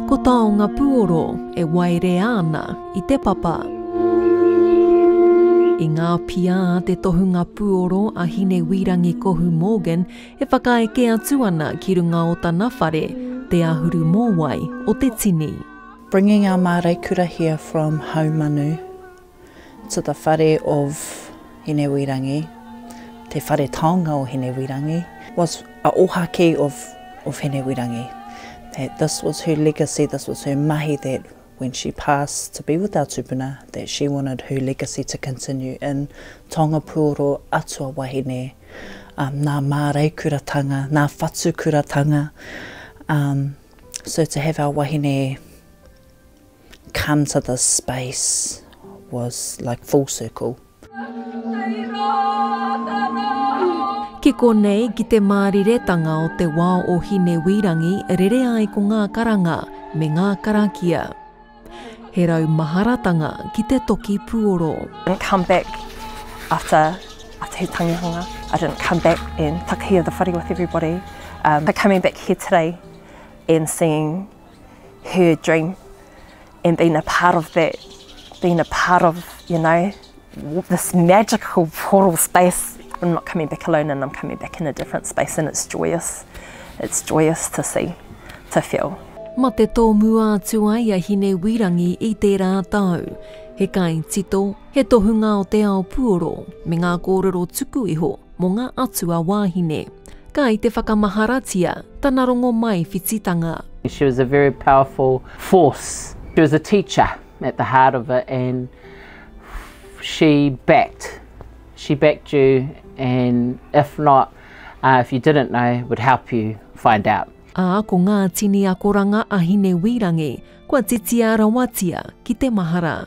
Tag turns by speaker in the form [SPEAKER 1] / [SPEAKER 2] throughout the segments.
[SPEAKER 1] Ko taonga puoro e waerea ana i te papa. I ngā pia a te tohunga puoro a Hinewīrangi Kohu Morgan e whakaeke atu ana ki runga o tana whare, te ahuru mōwai o te tini. Bringing our
[SPEAKER 2] Māreikura here from Haumanu. To the whare of Hinewirangi, te whare taonga o Hinewirangi, was a ohaki of of Hinewirangi, that this was her legacy, this was her mahi that when she passed to be with our tupuna that she wanted her legacy to continue in Taongapuoro atua wahine, um, nā māreikuratanga, nā whatukuratanga, um, so to have our wahine Come to this space was like full circle.
[SPEAKER 1] Ki konei, ki te māriretanga o te wao o Hinewīrangi rere ai ko ngā karanga me ngā karakia. He rau maharatanga ki te toki puoro. I didn't come back
[SPEAKER 3] after after he tangihanga, I didn't come back and takahia the whare with everybody, um, but coming back here today and seeing her dream and being a part of that, being a part of, you know, this magical portal space. I'm not coming back alone and I'm coming back in a different space and it's joyous. It's joyous to see, to feel. Ma te tōmua
[SPEAKER 1] atu ai a Hine Wirangi i tērā tau. He kai tito, he tohunga o te ao puoro, me ngā kōrero tuku iho, Mo nga atua wahine. Kai te whakamaharatia tana rongo mai whititanga. She was a very
[SPEAKER 4] powerful force. She was a teacher at the heart of it and she backed she backed you and if not if you didn't know would help you find out. A ko nga
[SPEAKER 1] tini akoranga a Hinewīrangi kua titia rawatia ki te mahara.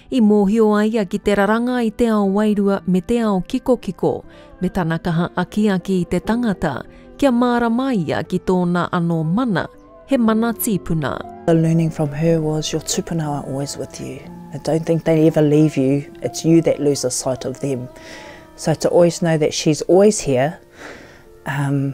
[SPEAKER 1] I mōhio a ia ki te raranga i te ao wairua me te ao kikokiko, me tana kaha akiaki i te tangata, kia mārama ia ki tōna anō mana, he mana tīpuna. The learning from her
[SPEAKER 2] was your tupuna are always with you, and don't think they ever leave you, it's you that lose the sight of them. So to always know that she's always here, um,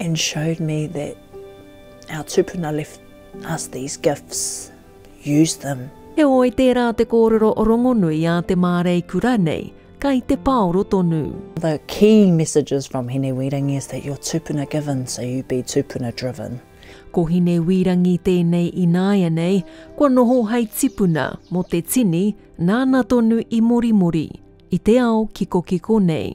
[SPEAKER 2] and showed me that our tupuna left us these gifts, use them. Heoi, tērā
[SPEAKER 1] te kōrero rongonui a te mārei kura nei, kai te paoro tonu. The key
[SPEAKER 2] messages from Hine Wīrangi is that you're tupuna given, so you be tupuna driven. Ko Hine
[SPEAKER 1] Wīrangi tēnei ināianei, kua noho hei tipuna mō te tini nāna tonu i morimori, i te ao kikokiko nei.